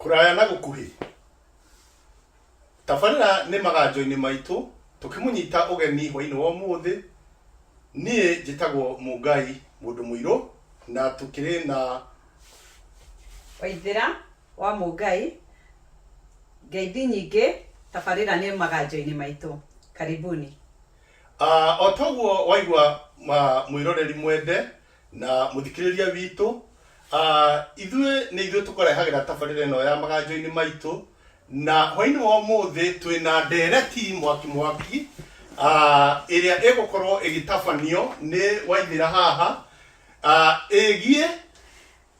kũraya na gũkuhĩ tabarĩra nĩ maganjo-inĩ maitũ tũkĩmũnyita ũgeni hwainĩ wa ũmũthĩ niĩ njĩtagwo mũngai mũndũ mũirũ na tũkĩrĩ na waithĩra wa mũngai ngeithi nyingĩ tabarĩra nĩ maganjo-inĩ maitũ karibuni uh, o toguo waigua uh, mwĩroreri mwende na mũthikĩrĩria witũ ah, ithuĩ nĩ ithuĩ tũkũrehagĩra tabarĩra ĩno ya maganjo-inĩ maitũ na hwainĩ wa ũmũthĩ twĩ na ndereti mwaki mwaki ah, ĩrĩa ĩgũkorwo ĩgĩtabanio nĩ waithĩra haha ah, ĩgiĩ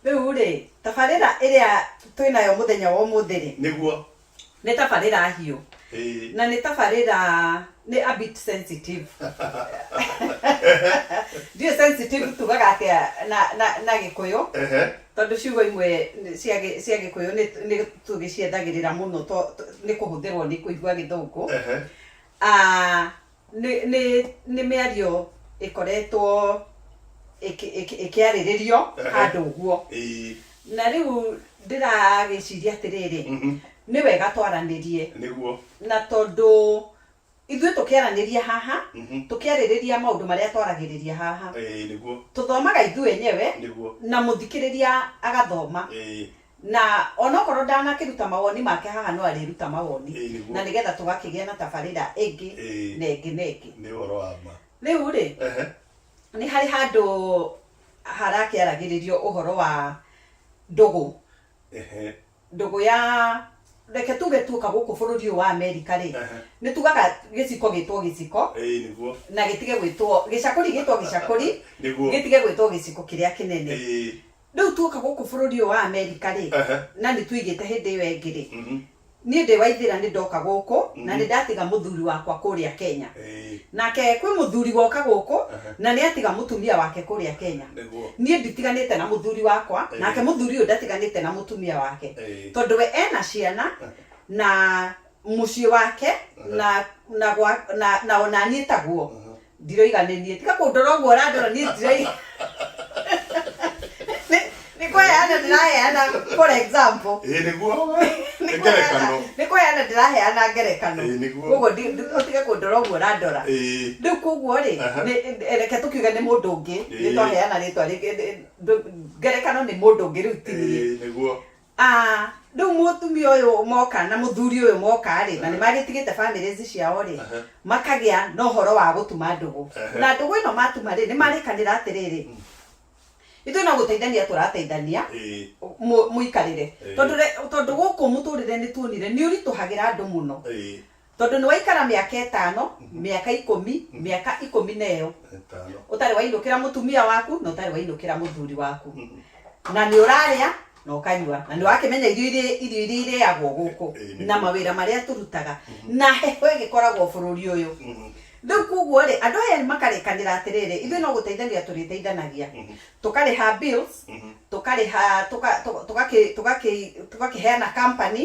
Rĩu rĩ, tabarĩra ĩrĩa twĩ nayo mũthenya wa ũmũthĩ rĩ, nĩguo nĩ tabarĩra hiũ Ĩĩ. na nĩ tabarĩra nĩ a bit sensitive ndiũ sensitive tugaga atĩa na, na, na gĩkũyũ Ehe. tondũ ciugo imwe nĩ- cia gĩ- cia gĩkũyũ nĩ- nĩ tũgĩciendagĩrĩra mũno to- to- nĩ kũhũthĩrwo nĩ kũigua gĩthũngũ Ehe. Ah, Nĩ nĩ nĩ mĩario ĩkoretwo ĩkĩ- ĩkĩ- ĩkĩarĩrĩrio Ehe. handũ ũguo Ĩĩ. na rĩu ndĩragĩciria atĩrĩrĩ Mhm. nĩ wega twaranĩrie Nĩguo. na tondũ ithuĩ tũkĩaranĩria haha Mhm. tũkĩarĩrĩria maũndũ marĩa twaragĩrĩria haha Ĩĩ, nĩguo. tũthomaga ithuĩ enyewe Nĩguo. na mũthikĩrĩria agathoma Ĩĩ. Na onokorwo ndanakĩruta mawoni make haha no arĩruta mawoni Ĩĩ, nĩguo. na nĩgetha tũgakĩgĩa na tabarĩra ĩngĩ Ĩĩ. na ĩngĩ na ĩngĩ. nĩ ũhoro wa ma Rĩu rĩ, Ehe. nĩ harĩ handũ harakĩaragĩrĩrio ũhoro wa ndũgũ. Ehe. Ndũgũ ya reke tuge tuoka gũkũ bũrũri ũyũ wa Amerika rĩ, Ehe. nĩ tugaga gĩciko gĩtwo gĩciko Ĩĩ, nĩguo na gĩtige gwĩtwo gĩcakũri gĩtwo gĩcakũri Nĩguo. gĩtige gwĩtwo gĩciko kĩrĩa kĩnene. Ĩĩ. Rĩu tuoka gũkũ bũrũri ũyũ wa Amerika rĩ, Ehe. na nĩ tũigĩte hĩndĩ ĩyo ĩngĩ rĩ, Mhm. niĩ ndĩ Waithĩra nĩ ndoka gũkũ na nĩ ndatiga mũthuri wakwa kũrĩa Kenya. Ĩĩ. Nake kwĩ mũthuri woka gũkũ Ehe. na nĩ atiga mũtumia wake kũrĩa Kenya. Nĩguo. Niĩ nditiganĩte na mũthuri wakwa, Ĩĩ. nake mũthuri ũyũ ndatiganĩte na mũtumia wake. Ĩĩ. Tondũ we ena ciana na mũciĩ wake na na gwa- na- na o na niĩ taguo. ndiroiga nĩ niĩ tiga kũndora ũguo ũrandora niĩ ndiroiga Nĩ- nĩ kweheana ndĩraheana for example ĩ nĩguo nĩ ngerekano kweheana- nĩ kweheana ndĩraheana ngerekano Ĩĩ, nĩguo. koguo ndi- ndi- ũtige kũndora ũguo ũrandora ĩ rĩu koguo rĩ Aha. nĩ- nĩ- reke tũkiuge nĩ mũndũ ũngĩ Ĩĩ. nĩ twaheana rĩtwa rĩngĩ Nĩ- ndũ- ngerekano nĩ mũndũ ũngĩ rĩu ti niĩ ĩ nĩguo Aah riu mutumia uyu moka na muthuri uyu moka ri na ni magitigite families ciao ri makagia na uhoro wa gutuma ndugu na ndugu ino matuma ri ni marikanira atiriri ithui no guteithania turateithania muikarire tondu tondu guku muturire ni tuonire ni urituhagira andu muno Tondũ nĩwaikara mĩaka ĩtano, mĩaka ikũmi, mĩaka ikũmi na ĩyo, Ĩtano. ũtarĩ wainũkĩra mũtumia waku na ũtarĩ wainũkĩra mũthuri waku na nĩ ũrarĩa na ũkanyua na nĩ wakĩmenya irio irĩ- irio iria irĩagwo gũkũ Ĩĩ, nĩ na guo. mawĩra marĩa tũrutaga na heho ĩgĩkoragwo bũrũri ũyũ rĩu koguo rĩ andũ aya makarĩkanĩra atĩrĩrĩ ithuĩ no gũteithania tũrĩteithanagia tũkarĩha bills tũkarĩha tũka- tũka- tũgakĩ- tũgakĩ- tũgakĩheana company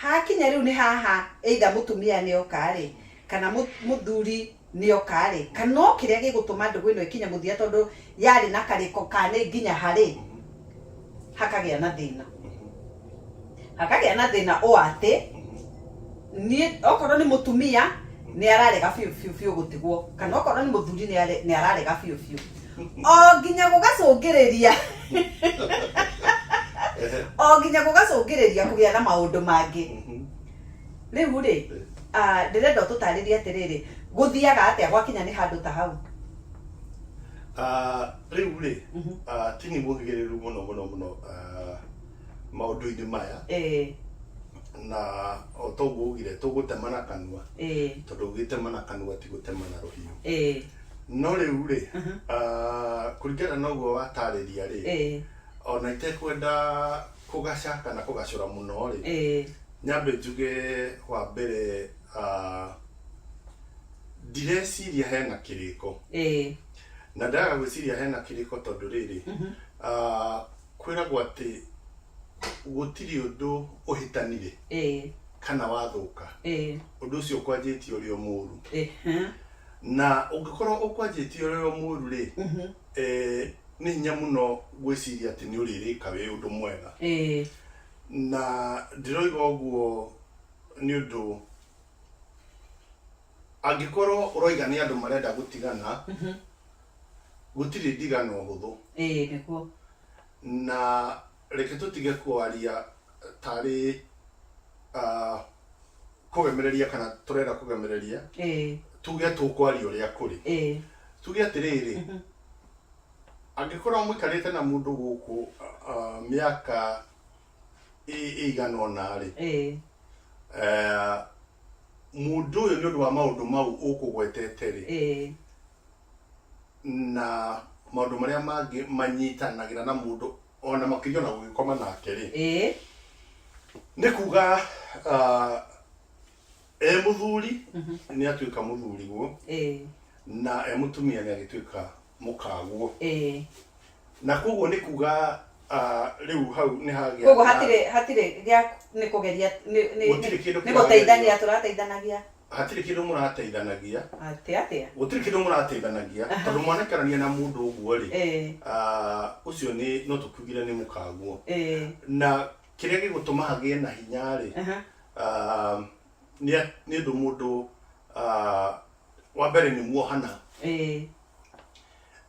Hakinya rĩu nĩ haha either mũtumia nĩ oka-rĩ, kana mũthuri nĩ oka-rĩ, kana o kĩrĩa gĩgũtũma ndũgũ ĩno ĩkinye mũthia tondũ yarĩ na karĩko ka nĩ nginya ha-rĩ, hakagĩa na thĩna. Hakagĩa na thĩna ũũ atĩ, niĩ okorwo nĩ mũtumia nĩ ararega biũ biũ biũ gũtigwo, kana okorwo nĩ mũthuri nĩ ararega biũ biũ. o nginya gũgacũngĩrĩria o nginya gũgacũngĩrĩria kũgĩa na maũndũ mangĩ Mhm. rĩu rĩ ah, ndĩrenda ũtũtarĩrie atĩrĩrĩ gũthiaga atĩa gwakinya nĩ handũ ta hau Ah, rĩu rĩ Mhm. ah, ti nĩ mũhĩgĩrĩru mũno mũno mũno ah, maũndũ-inĩ maya Eh, na o toguo ugire tũgũtemana kanua eh, tondũ ũgĩtemana kanua ti gũtemana rũhiũ eh, no rĩu rĩ ah, kũringana na ũguo watarĩria rĩ Eh, ona itekwenda kũgaca kana kũgacũra mũno rĩ eh, nyambe njuge wa mbere ah, ndireciria hena kĩrĩko eh, na ndaga gwĩciria hena kĩrĩko tondũ rĩrĩ ah, kwĩragwo atĩ gũtirĩ ũndũ ũhĩtanire eh, kana wathũka eh, ũndũ ũcio ũkwanjĩtie ũrĩ o mũru eh, eh, na ũngĩkorwo ũkwanjĩtie ũrĩ o mũru rĩ Mhm. eh, nĩ hinya mũno gwĩciria atĩ nĩ ũrĩrĩka wĩ ũndũ mwega Eh, na ndĩroiga ũguo nĩ ũndũ angĩkorwo ũroiga nĩ andũ marenda gũtigana mhm. gũtirĩ ndigano hũthũ Eh, nĩguo na Reke tũtige kwaria tarĩ kũgemereria kana tũrenda kũgemereria, tuge tũkwaria ũrĩa kũrĩ. Tuge atĩrĩrĩ, angĩkorwo mũikarĩte na mũndũ gũkũ mĩaka ĩigana ũna-rĩ, mũndũ ũyũ nĩũndũ wa maũndũ mau ũkũgwetete-rĩ, na maũndũ marĩa mangĩ manyitanagĩra na mũndũ ona makĩria ona gũgĩkoma nake rĩ ĩĩ nĩ kuga ah, e mũthuri nĩ atuĩka mũthuri guo ĩĩ na e mũtumia nĩ agĩtuĩka mũkaguo ĩĩ na koguo nĩ kuga ah, rĩu hau nĩ hagĩa koguo na- hatirĩ hatirĩ gĩa nĩ kũgeria nĩ- nĩ- Gũtirĩ kĩndũ nĩ- nĩ kĩragerio. gũteithania tũrateithanagia Hatirĩ kĩndũ mũrateithanagia. Atĩ atĩa? Gũtirĩ kĩndũ mũrateithanagia, tondũ mwanekanania na mũndũ ũguo-rĩ, ũcio nĩ, no tũkiugire nĩ mũkaguo. Na kĩrĩa gĩgũtũma agĩe na hinya-rĩ, nĩ ũndũ mũndũ, wa mbere nĩ muohana,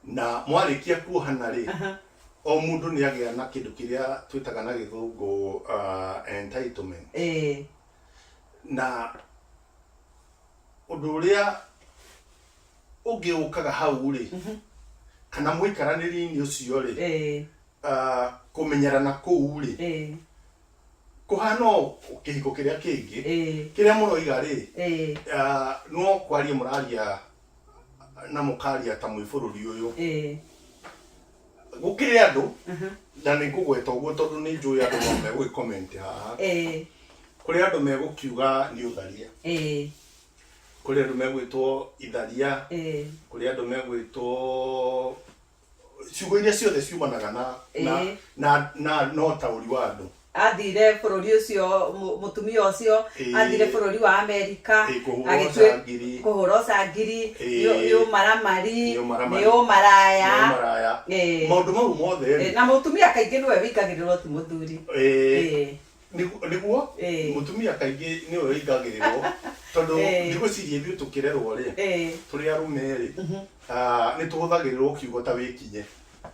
na mwarĩkia kuohana-rĩ, o mũndũ nĩagĩa na kĩndũ kĩrĩa twĩtaga na gĩthũngũ entitlement. na ũndũ ũrĩa ũngĩ ũkaga hau rĩ kana mũikaranĩri-inĩ ũcio rĩ eh, ah, kũmenyerana kũu rĩ eh, kũhana o kĩhiko kĩrĩa kĩngĩ eh, kĩrĩa mũroiga rĩ eh, ah, no kwaria mũraria na mũkaria ta mwĩ bũrũri ũyũ eh. gũkĩrĩ andũ na nĩ ngũgweta ũguo tondũ nĩ njũĩ andũ no megũgĩ comment haha eh kũrĩ andũ megũkiuga nĩ ũtharia eh kũrĩ andũ megwĩtwo itharia eh kũrĩ andũ megwĩtwo ciugo iria ciothe ciumanaga na na Eh. na na na ũtaũri wa andũ athire bũrũri ũcio mũ- mũtumia ũcio Ĩĩ. athire bũrũri wa amerika Ĩĩ, kũhũra agĩtuĩ- ũcangiri. kũhũra ũcangiri Ĩĩ. nĩ- nĩ ũmaramari Nĩ ũmaramari. nĩ ũmaraya Nĩ ũmaraya. Ĩĩ. maũndũ mau mothe Ĩĩ, rĩ na mũtumia kaingĩ nĩwe wĩingagĩrĩrwo ti mũthuri eh, Ĩĩ. nĩgu- nĩguo Ĩĩ. mũtumia kaingĩ nĩwe wĩingagĩrĩrwo tondũ Ĩĩ. ndigwĩciria ithuĩ tũkĩrerwo rĩ Ĩĩ. tũrĩ arũme rĩ nĩ tũhũthagĩrĩrwo kiugo ta wĩkinye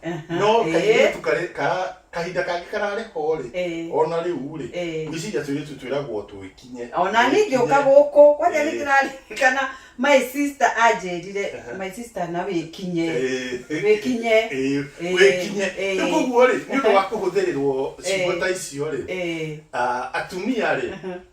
Aha, no eh, kairĩtu karĩ ka kahinda kangĩ kararĩ ho rĩ eh, ona rĩu rĩ eh. gwĩciria tũirĩtu twĩragwo twĩkinye ona niĩ ngĩũka gũkũ kwanja nĩ Eh. ndĩraririkana my sister anjĩrire Aha. my sister na wĩkinye Eh. wĩkinye Eh, Eh, wĩkinye eh. rĩu koguo rĩ nĩ ũndũ wa kũhũthĩrĩrwo ciugo Eh. ta icio rĩ Eh, ah, atumia rĩ aha,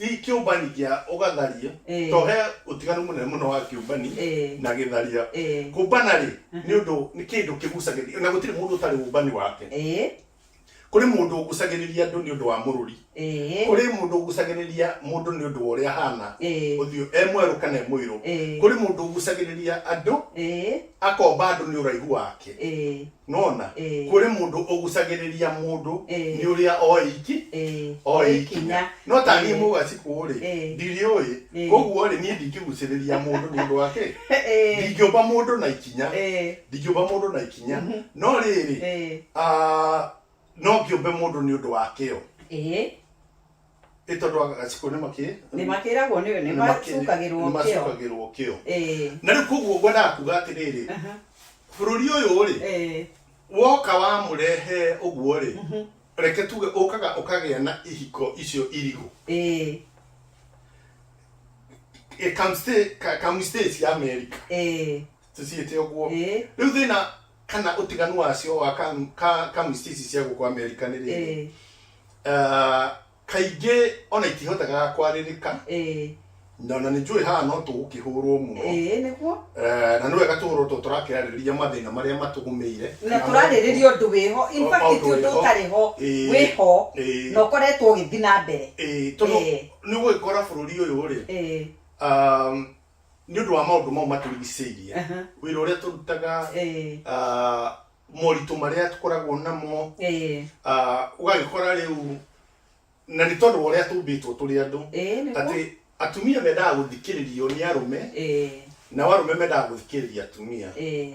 Gĩ- kĩũmbani kĩa ũgatharia Eh. to he ũtiganu mũnene mũno wa kĩũmbani Eh. na gĩtharia Eh. kũmbana rĩ nĩ ũndũ nĩ kĩndũ kĩgucagĩrĩria na gũtirĩ mũndũ ũtarĩ ũmbani wake Eh. kũrĩ mũndũ ũgucagĩrĩria andũ nĩ ũndũ wa mũrũri Eh. kũrĩ mũndũ ũgucagĩrĩria mũndũ nĩ ũndũ wa ũrĩa ahana Eh. ũthiũ e mwerũ kana e mũirũ Eh. kũrĩ mũndũ ũgucagĩrĩria andũ Eh. akomba andũ nĩ ũraihu wake Eh. nona Ĩĩ. kũrĩ mũndũ ũgucagĩrĩria mũndũ Ĩĩ. nĩ ũrĩa oĩki Ĩĩ. oĩkinya no ta niĩ Ĩĩ. mũgacikũ rĩ Ĩĩ. ndiriũĩ Ĩĩ. koguo rĩ niĩ ndingĩgucĩrĩria mũndũ nĩ ũndũ wake Ĩĩ. ndingĩũmba mũndũ na ikinya Ĩĩ. ndingĩũmba mũndũ na ikinya no rĩrĩ Ĩĩ. ah, no ngĩũmbe mũndũ nĩ ũndũ wa kĩo Ĩĩ. Ĩ tondũ wa gagaciko nĩ makĩ nĩ makĩragwo nĩ nĩ macukagĩrwo kĩo macukagĩrwo kĩo ĩĩ na rĩu koguo ngwendaga kuga atĩrĩrĩ aha bũrũri ũyũ rĩ ĩĩ woka wa mũrehe ũguo rĩ reke tuge ũkaga ũkagĩa na ihiko icio irigũ ĩĩ Ĩ kamste- ka- kamstate ya America ĩĩ tũciĩte ũguo ĩĩ rĩu thĩna kana ũtiganu wacio wa kam- ka- kamĩciĩ ici cia gũkũ amerika nĩ rĩrĩ ĩĩ Ah, kaingĩ ona itihotaga kwarĩrĩka ĩĩ na ona nĩ njũĩ haha no tũgũkĩhũrwo mũno ĩĩ nĩguo Eh, na nĩ wega tũhũrwo tũ tũrakĩarĩrĩria mathĩna marĩa matũgũmĩire na Kana tũrarĩrĩria ũndũ wĩho in O- fact maũndũ ti ũndũ wĩho. ũtarĩ ho Ĩĩ. wĩho Ĩĩ. na ũkoretwo ũgĩthiĩ na mbere Eh, tondũ Ĩĩ. nĩ ũgũgĩkora bũrũri ũyũ rĩ ĩĩ um, nĩ ũndũ wa maũndũ mau matũrigicĩirie Aha. wĩra ũrĩa tũrutaga Eh, ah, moritũ marĩa tũkoragwo namo eh, ah, ũgagĩkora rĩu na nĩ tondũ wa ũrĩa tũmbĩtwo tũrĩ andũ eh, nĩguo. atĩ atumia mendaga gũthikĩrĩrio nĩ arũme Eh, nao arũme mendaga gũthikĩrĩria atumia eh,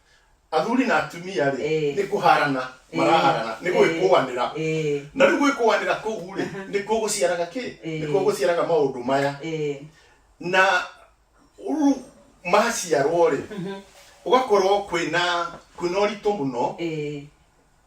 Athuri na atumia-rĩ, Ĩĩ. nĩ kũharana Ĩĩ. maraharana, nĩ gwĩkũanĩra. Ĩĩ. Na rĩu gwĩkũanĩra kũu-rĩ, Aha. nĩkuo gũciaraga kĩ? Ĩĩ. Nĩkuo gũciaraga maũndũ maya. Ĩĩ. Na rĩu maciarwo-rĩ, gũgakorwo kwĩna, kwĩna ũritũ mũno. Ĩĩ.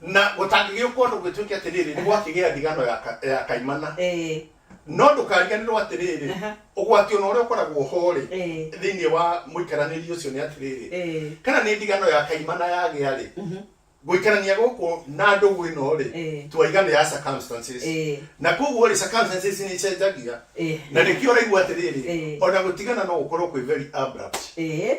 na gũtangĩgĩũka ũndũ gwĩtuĩke atĩrĩrĩ nĩ gwakĩgĩa ndigano ya ka- ya kaimana Eh, no ndũkariganĩrwo atĩrĩrĩ Aha. ũgwati ona ũrĩa ũkoragwo horĩ eh, thĩinĩ wa mũikaranĩri ũcio nĩ atĩrĩrĩ eh, kana nĩ ndigano ya kaimana yagĩa rĩ mhm, gũikarania gũkũ na ndũgũ ĩno rĩ Eh. twaigana ya circumstances eh, na koguo rĩ circumstances nĩ icenjagia eh, na nĩkĩo ũraigua atĩrĩrĩ Eh. ona gũtigana no gũkorwo kwĩ very abrupt eh,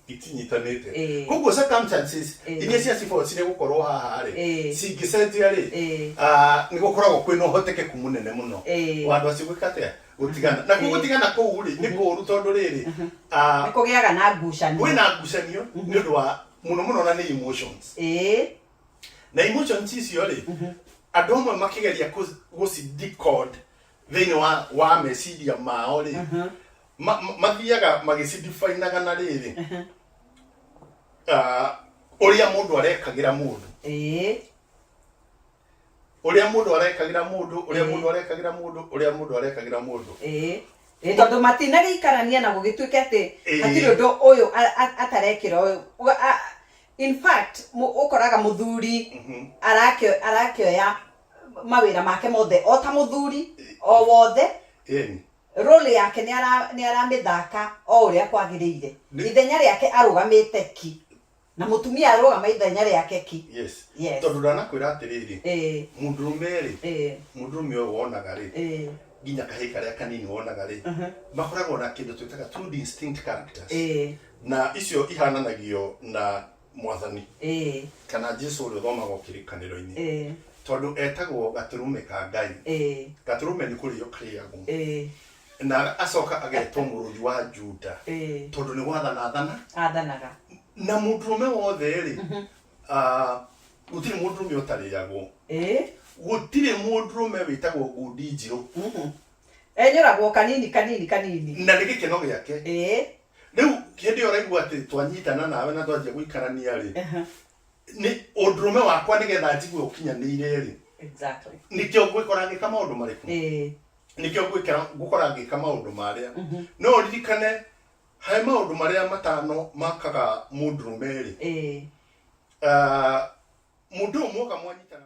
itinyitanĩte Ĩĩ. koguo circumstances Ĩĩ. iria cia cibao cirĩ gũkorwo haha rĩ Ĩĩ. cingĩcenjia rĩ Ĩĩ. ah, nĩ gũkoragwo kwĩ na ũhotekeku mũnene mũno Ĩĩ. wa andũ acio gwĩka atĩa gũtigana na Ĩĩ. kuo gũtigana kũu rĩ nĩ kũũru tondũ rĩrĩ ah, nĩ kũgĩaga na ngucanio kwĩ na ngucanio nĩ ũndũ wa mũno mũno na nĩ emotions ĩĩ na emotions icio rĩ andũ amwe makĩgeria kũ- gũci decode thĩinĩ wa, wa meciria mao rĩ ma- ma- mathiaga magĩcidifainaga na rĩrĩ Aha. Ah, ũrĩa mũndũ arekagĩra mũndũ Eh, ũrĩa mũndũ arekagĩra mũndũ ũrĩa Mhm. mũndũ arekagĩra mũndũ ũrĩa mũndũ arekagĩra mũndũ eh. Eh, tondũ matinagĩikarania na gũgĩtuĩke atĩ Eh. hatirĩ ũndũ ũyũ a- a- atarekĩra ũyũ Wa- a- in fact mũ- ũkoraga mũthuri Mhm. arakio- arakioya mawĩra make mothe o ta mũthuri o wothe Ĩni. Role yake nĩ ara nĩ aramĩthaka o ũrĩa kwagĩrĩire. Nĩ- Ithenya rĩake arũgamĩte ki. Na mũtumia arũgama ithenya rĩake ki. yes Yes. tondå ndanakwä atä rä rä Ĩĩ, må ndå rå me rä ĩĩ, må ndå rå me å yå wonaga rä ĩĩ, nginya kahä karä a kanini wonaga rä Mhm. makoragwo na kä ndå twä taga ĩĩ. na icio ihananagio na mwathani ĩĩ kana jesu ũrĩa ũthomagwo kĩrĩkanĩro-inĩ ĩĩ tondũ etagwo gatũrũme ka ngai ĩĩ gatũrũme nĩ kũrĩo karĩagwo ĩĩ na acoka agetwo mũrũthi wa juda ĩĩ tondũ nĩ gwathana athana athanaga na mũndũrũme wothe rĩ ah, gũtirĩ mũndũrũme ũtarĩagwo ĩĩ gũtirĩ mũndũrũme wĩtagwo ngundi njirũ enyũragwo kanini kanini kanini na nĩ gĩkeno gĩake ĩĩ rĩu hĩndĩ ĩyo ũraigua atĩ twanyitana nawe na twanjia gũikarania rĩ Aha, nĩ ũndũrũme wakwa nĩgetha njigue ũkinyanĩire rĩ exactly nĩkĩo ngwĩkora ngĩka maũndũ marĩkũ Eh, nĩkĩo ngwĩkora ngũkora ngĩka maũndũ marĩa mhm, no ũririkane harĩ maũndũ marĩa matano makaga mũndũrũme rĩ eh, Ah, mũndũ ũyũ mwoka mwanyitana